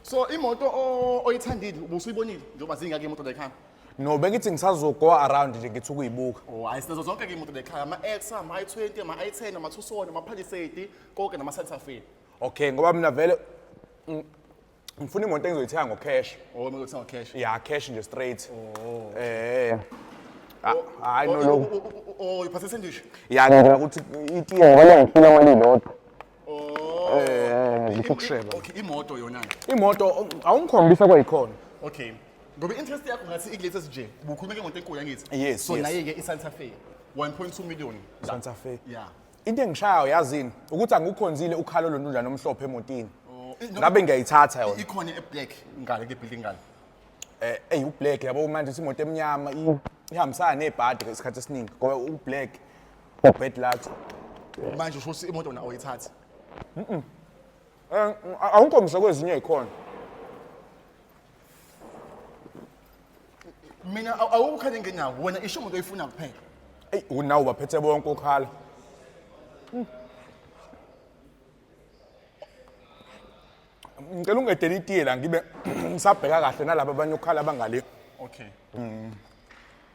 so imoto o- oyithandile ubusuyibonile njengoba zingaki imoto lekhaya no bengithi ngisazogo around nje ngithi ukuyibuka o hayi sinazo zonke ke imoto lekhaya ama-x ama-i-twenty ama-i-ten ama-tucson ama-palisade konke nama-santafe okay ngoba mina vele ng- ngifuna imoto engizoyithenga ngocash o kumele uthenga cash ya cash nje straight eh Ah, hayi no lokhu uyiphathise ndishi ya ngicela ukuthi itiye ngoba ngifuna mali lodwa Eh, ngifuna ukusheba. Okay, imoto yona. Imoto oh, awungikhombisa kwayikhona. Okay. Ngoba interest yakho ngathi ikulethas nje. Ubukhuluma ke ngonto enkulu yangithi. Yes, So yes. naye ke iSanta Fe 1.2 million. Santa Fe. Yeah. Into engishayo yazini ukuthi angukhonzile ukhalo lontunjana omhlophe emotini. Oh, i- no, Ngabe ngiyayithatha yona. Ikhona eblack ngale ke building ngale. Eh, eyi ublack yabo manje simoto emnyama i- ihambisana nebhadi isikhathi esiningi ngoba ublack Bad luck. Manje usho ukuthi imoto na oyithatha. Eh, awungikhombise kwezinye ikhona. Mina aw- awukhale ngenyawo wena isho umuntu oyifuna kuphela. Ey, unawo baphethe bonke ukhala. Ngicela ungedele itiye la ngibe ngisabheka kahle nalabo abanye ukhala bangale. Okay.